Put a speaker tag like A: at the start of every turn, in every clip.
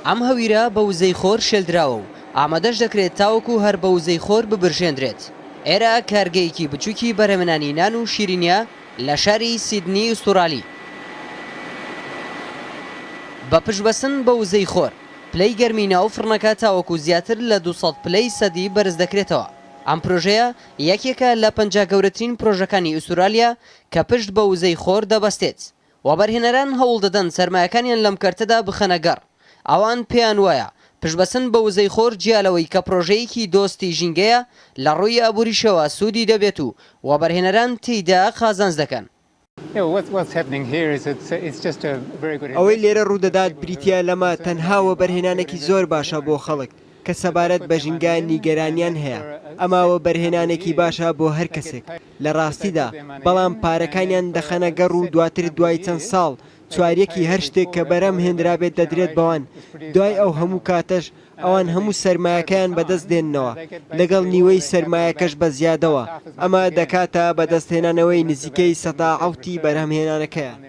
A: ئەم هەویرە بە وزەی خۆر شێلدراوە و ئامادەش دەکرێت تاوەکو هەر بە وزەی خۆر ببرژێندرێت. ئێرە کارگەیەکی بچووکی بەرهەمێنانی نان و شیرینییە لە شاری سیدنی ئوستورالی. بە پشتبەستن بە وزەی خۆر، پلەی گەرمی ناو فڕنەکە تاوەکو زیاتر لە دوو سەد پلەی سەدی بەرز دەکرێتەوە. ئەم پرۆژەیە یەکێکە لە پەنجا گەورەترین پرۆژەکانی ئوستورالیا کە پشت بە وزەی خۆر دەبەستێت. وەبەرهێنەران هەوڵدەدەن سەرمایەکانیان لەم کەرتەدا بخەنە گەڕ. ئەوان پێیان وایە پشتبەستن بە وزەی خۆر جیا لەوەی کە پرۆژەیەکی دۆستی ژینگەیە، لە ڕووی ئابووریشەوە سوودی دەبێت و وەبەرهێنەران تێیدا قازانج دەکەن.
B: ئەوەی لێرە ڕوودەدات بریتییە لەمە، تەنها وەبەرهێنانێکی زۆر باشە بۆ خەڵک کە سەبارەت بە ژینگە نیگەرانییان هەیە. ئەمە وەبەرهێنانێکی باشە بۆ هەر کەسێک. لە ڕاستیدا، بەڵام پارەکانیان دەخەنە گەڕ و دواتر دوای چەند ساڵ چواریەکی هەر شتێک کە بەرهەم هێنرابێت دەدرێت بەوان، دوای ئەو هەموو کاتەش ئەوان هەموو سەرمایەکەیان بەدەست دێننەوە، لەگەڵ نیوەی سەرمایەکەش بە زیادەوە، ئەمە دەکاتە بەدەستهێنانەوەی نزیکەی سەدا حەوتی بەرهەمهێنانەکەیان.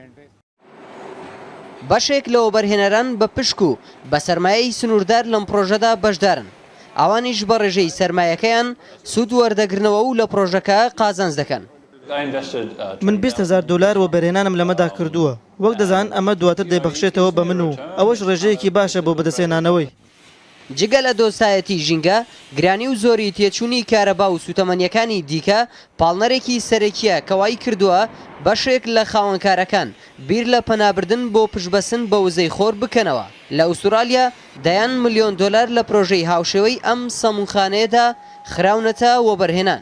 A: بەشێک لە وەبەرهێنەران بە پشک و بە سەرمایەی سنووردار لەم پڕۆژەدا بەشدارن، ئەوانیش بە ڕێژەی سەرمایەکەیان سوود وەردەگرنەوە و لە پڕۆژەکە قازانج دەکەن.
C: من بیست هەزار دۆلار وەبەرهێنانم لەمەدا کردووە، وەک دەزان ئەمە دواتر دەیبەخشێتەوە بە من و ئەوەش ڕێژەیەکی باشە بۆ بەدەستهێنانەوەی. جگە
A: لە دۆستایەتی ژینگە، گرانی و زۆری تێچووی کارەبا و سووتەمەنییەکانی دیکە پاڵنەرێکی سەرەکییە کە وایکردووە بەشێک لە خاوەنکارەکان بیر لە پەنابردن بۆ پشتبەستن بە وزەی خۆر بکەنەوە. لە ئوستورالیا دەیان ملیۆن دۆلار لە پرۆژەی هاوشێوەی ئەم سەموونخانەیەدا خراونەتە وەبەرهێنان.